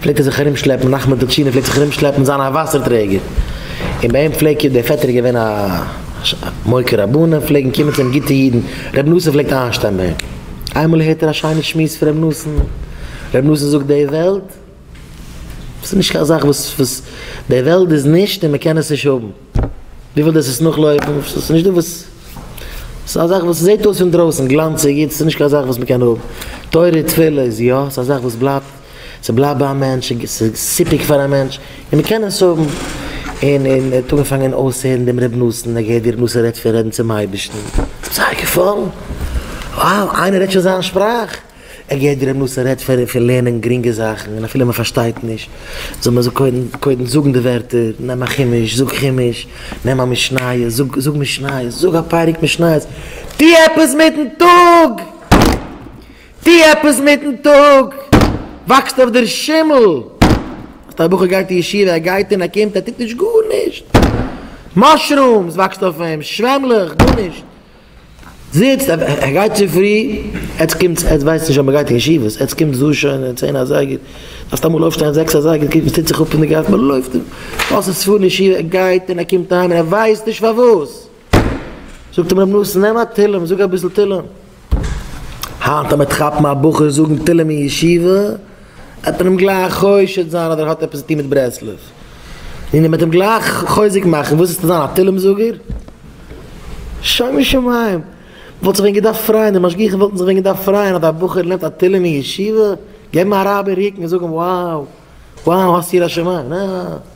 פלעגט ער זיך ארום שלעפן נחמן טשינער פלעגט זיך ארום שלעפן זיין א וואסער טרעגער און ביי אים פלעגט דער פעטער איז געווען א מוקיר רבנים פלעגן קומען צו אים גוטע אידן רבי נתן פלעגט איינשטיין ביי אים איינמאל הערט ער א שיינע שמועס פון רבי נתן רבי נתן זאגט די וועלט איז נישט קיין זאך וואס וואס די וועלט איז נישט און מען קען עס נישט האבן. די ווילסט דאס עס נאכלויפן? ס'איז נישט דא וואס. ס'איז א זאך וואס ס'זעט אויס פון דרויסן גלאנציג איצט, ס'איז נישט קיין זאך וואס מ'קען האבן. תורה תפילה איז יא, ס'איז א זאך וואס בלייבט, ס'בלייבט ביי א מענטש, ס'איז סיפוק פאר א מענטש, און מ'קען עס האבן. און און ער האט אנגעפאנגען אויסהערן דעם רב נתן, ער געהערט ווי רב נתן רעדט פון רעדן צום אייבערשטן, זייער געפאלן, wow איינער רעדט שוין זיין שפראך. ער געהערט ווי ר' מנשה רעדט פון פון לערנען גרינגע זאכן און אפילו מען פארשטייט נישט זאל מען קודם קודם זאגן די ווערטער, נעם א חומש זאג חומש, נעם א משניות זאג זאג משניות, זאג א פרק משניות, טו עפעס מיטן טאג! טו עפעס מיטן טאג! וואקסט אויף דער שימל! האסט א בחור גייט אין ישיבה ער גייט און ער קומט ער טוט נישט גארנישט! מאשרומס וואקסט אויף אים, שוועמלעך, גארנישט! זיצט, ער גייט צופרי, עטס קומטס, עטס ווייסט נישט אז מען גייט אין ישיבות, עטס קומטס דא שוין אין צען אזייגער, דארפסט אמאל אויפשטיין זעקס אזייגער, קוק וואס טוט זיך אפ אין די גאס, מען לויפט און לאזט עס פארן אין ישיבה, ער גייט און ער קומט אהיים און ער ווייסט נישט פארוואס, זאגט אים רבי נתן נעם א תהלים, זאג אביסל תהלים, היינט אז מען וועט כאפן א בחור זאגן תהלים אין ישיבה. ער האט איהם גלייך חושד זיין אז ער האט עפעס צו טוהן מיט ברסלב, און ער וועט איהם גלייך חוזק מאכן, וואס איז צו זיין א תהלים זאגער? שומו שמים! מ'וואלט זיך ווען געדארפט פרייען, די משגיחים וואלטן זיך ווען געדארפט פרייען אז א בחור לערנט א תהלים אין ישיבה, געבן א רייב אין רוקן און זאגן וואו! וואו! האסט יראת שמים! נעע!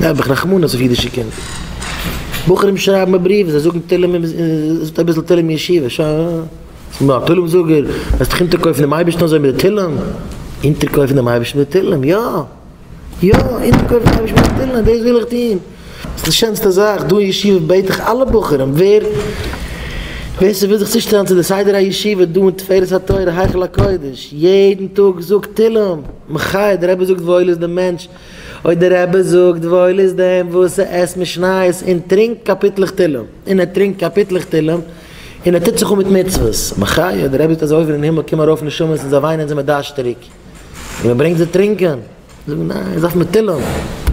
האב איך רחמנות אויף אידישע קינדער. בחורים שרייבן מיר בריוון, זיי זאגן תהלים אין זאגט אביסל תהלים אין ישיבה, ש ס מיר א תהלים זאגער, וועסט דיך אונטערקויפן דעם אייבערשטן אזוי מיט די תהלים? אונטערקויפן דעם אייבערשטן מיט די תהלים? יא! יא! אונטערקויפן דעם אייבערשטן מיט די תהלים, דאס וויל איך טון! ס'איז די שענסטע זאך דא אין ישיבה בעט איך אלע בחורים ווער ווער ס'וויל זיך צושטעלן צו די סדר הישיבה דא אין תפארת התורה היכל הקודש יעדן טאג זאג תהלים מחי' די רבי זאגט וואויל איז די מענטש אוי די רבי זאגט וואויל איז דעם וואס ער עסט משניות און טרינקט קאפיטלעך תהלים און ער טרינקט קאפיטלעך תהלים און ער טוט זיך אן מיט מצוות מחי' די רבי זאגט אז אויבן אין הימל קומען ארויף נשמות און זיי וויינען זיי מיט דארשט צוריק און מען ברענגט זיי טרינקען זאגן ניין זיי דארפן מיט תהלים.